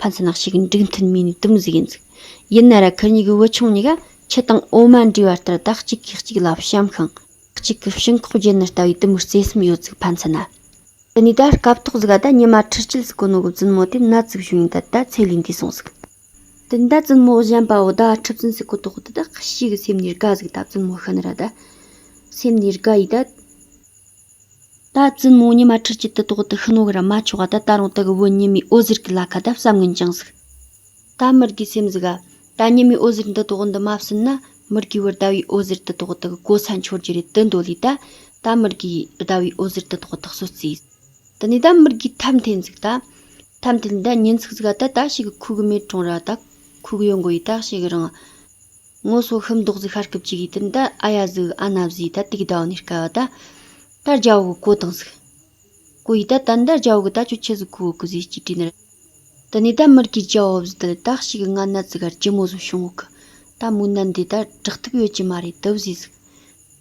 ཕན་ཚུན་ལག་ཤེས་ཀྱི་འགྲིག་མཐུན་མིན་ནས་དུམ་བཟོས་ཀྱིན་འདུག་ཡིན་ན་ར་ཁུལ་གཉིས་ཀྱི་བུ་ཆུང་གཉིས་ཀ་ཁྱི་དང་འོ་མ་འདྲེས་པ་ལྟར་བདག་གཅིག་གིས་གཅིག་ལ་བྱམས་ཤིང། གཅིག་གི་བྱིང་ཁོག་བརྗེད་ནས་ལྟ་བའི་དུམ་བུར་བརྩེ་སེམས་ཡོད་ཚུལ་ཕན་ཚུན་ན། དེ་ནས་ད་སྐབས་ཐོག་ཟིག་ག་ད་ཉི་མ་ཁྲི་སྐྱིད་སི་ཀོ་ནོ་གི་བཙུན་མོ་དེ་ན་ཙིག་བྱུང་ཡིན་ད་ད་ཚེ་ལུས་འདས་སོང་ཟིག། དེ་ད་བཙུན་མོ་གཞན་པ་བོ་ད་ཁྲི་བཙུན་སི་ཀོ་ཐོག་དེ་ད་ཁྱི་གཤིས་ཀྱི་སེམས་ནས་དགའ་ཟིག་ད་བཙུན་མོ་ཤི་ནི་ར་ད་སེམས་ནས་དགའ་ཡིས་ད། ད་བཙུན་མོ་ཉི་མ་ཁྲི་གཅིག་ཏུ་ཏོག་ཏུ་ཤི་ནོ་གི་ར་མ་ཆོག་ག་ད་ད་རུང་དག་བོད་ཉི་མའི་འོད་ཟེར་གི་ལ་ཁ་ད་བསམ་ངན་ཅིང་ཟིག་ད་མི་རྒས་སེམས་ཟིག་ག་ད་ཉི་མའི་འོད་ཟེར་འདི་ཏོག་འདི་མ་བསུན་ན་མི་རྒས་བར་ཟླ་བའི་འོད་ཟེར་དུ་ཏོག་དག་གོ་ས་འཆོར་རྒྱུ་རེད་དུ་མདོ་ལས་ད་ད་མི་རྒས་ཟླ་བའི་འོད་ཟེར་དུ་ཏོག་དག་སོ་རྩིས་དུ་ནས་ད་མི་རྒས་ཐབས་མཐེན་ཟིག་ད་ཐབས་མཐེན་ད་ཉིན་ཟིག་ཟིག་ག་ད་ད་ཤི་གི་ཁུག་གི་མེད་གྲོང་ར་ད་ཁུག་གི་ཡོད་མགོ་ཡི་ད་ཤི་གི་རང་ངོ་སོ་ཤི་མདོག་གཟིག་ཤ་སྐུབ་ཅིག་གིས་དུན་ད་ཨ་ཡ་གཟུག་ཨ་ན་བཟིས་ད་དུག་ཟླ་བ་ནས་དཀའ་བ་ད་ད་རྒྱ་བོ་གི་གོ་དང་གཟིག་གོ་ཡིས་ད་དན་ད་རྒྱ་བོ་གི་ད་ཁྱོད་ཁྱི་གཟིག་གོ་བོ་གི་བཟིས་གཅིག་དྲིས་ནི་དུ་ནས་ད་མི་རིགས་ཀྱི་རྒྱ་བོ་བཟིས་དུ་ད་ཤི་གི་ང་ན་ཙི་གར་གྱི་མོ་བཟོ་བྱུང་བོ་གི་ད་མོ་ན་འདི་ད་དྲག་ཐུབ་ཡོད་ཀྱི་མ་རེད་དུ་བཟིས་གཟིག་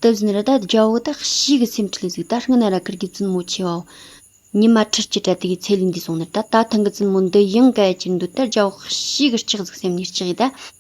དུ་བཟིས་ནི་ར་ད་རྒྱ་བོ་གི་ད་ཤི་གི་སེམས་ཁྲི་ལས་གཟིག་ད་ཤི་ན་ར་ཀར་གྱི་བཙུན་མོ་ཆེ་བ་བོ་ཉི་མ་ཁྲི་གཅིག་གྲ་དུ་གི་ཚེ་ལུས་འདས་སོང་ནི་ད་ད་ཐང་གི་བཙུན་མོ་འདི་ཡང་ག་ཡ་གྱི་འདུག་ད་རྒྱ་བོ་གི་ཤི་གི་ལྕགས་གཟིག་སེམས་ནས་ལྕགས་ཡིས་ད།